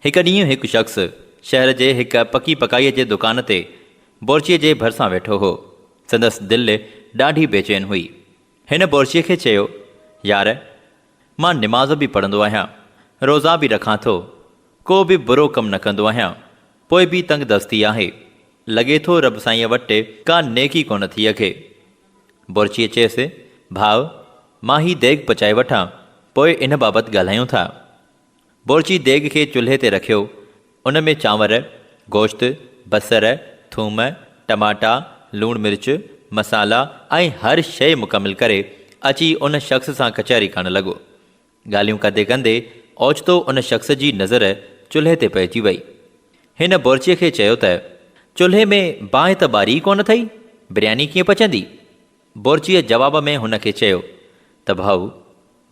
هڪ ڏينهن هڪ شخص شهر جي هڪ پڪي پڪائيء جي دڪان تي بورچيء جي ڀرسان ويٺو هو. سندس دل ڏاڍي بيچين هئي. هن بورچيء کي چيو، يار! مان نماز به پڙهندو آهيان، روزا به رکان ٿو، ڪو به برو ڪم نه ڪندو آهيان، پوء به تنگ دستي آهي. لڳي ٿو رب سائينء وٽ ڪا نيڪي ڪونه ٿي اگهي. بورچيء چيس، ڀاء! مان هي ديڳ پچائي وٺان، پوء ان بابت ڳالهايون ٿا. بورچي ديڳ کي چلهي تي رکيو، ان ۾ چانور، گوشت، بصر، ٿوم، ٽماٽا، لوڻ مرچ، مصالحا ۽ هر شيء مڪمل ڪري، اچي ان شخص سان ڪچهري ڪرڻ لڳو. ڳالهيون ڪندي ڪندي اوچتو ان شخص جي نظر چلهي تي پئجي وئي. هن بورچيء کي چيو ته، چلهي ۾ باهه ته ٻاري ئي ڪونه اٿئي، برياني ڪيئن پچندي؟ بورچيء جواب ۾ هن کي چيو ته ڀائو،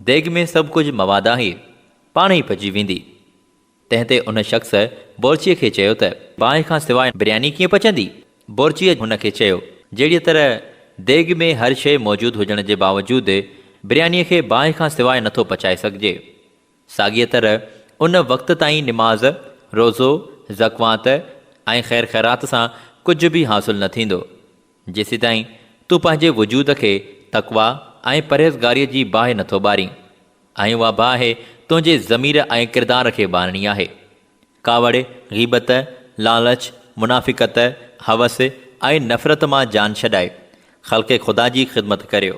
ديڳ ۾ سڀ ڪجهه مواد آهي، پاڻ ئي پچي ويندي. تنهن تي ان شخص بورچيء کي چيو ته، باهه کان سواء برياني ڪيئن پچندي؟ بورچيء هن کي چيو، جهڙيء طرح ديڳ ۾ هر شيء موجود هجڻ جي باوجود بريانيء کي باهه کان سواء نٿو پچائي سگهجي، ساڳيء طرح ان وقت تائين نماز، روزو، زڪوات ۽ خير خيرات سان ڪجهه به حاصل نه ٿيندو، جيسيتائين تون پنهنجي وجود کي تقويٰ ۽ پرهيزگاريء جي باهه نٿو ٻارين، ۽ اها باهه تنهنجي ضمير ۽ ڪردار کي ٻارڻي آهي. ڪاوڙ، غيبت، لالچ، منافقت، هوس ۽ نفرت مان جان ڇڏائي، خلق خدا جي خدمت ڪريو.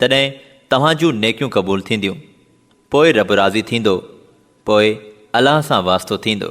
تڏهن توهان جون نيڪيون قبول ٿينديون، پوء رب راضي ٿيندو، پوء الله سان واسطو ٿيندو.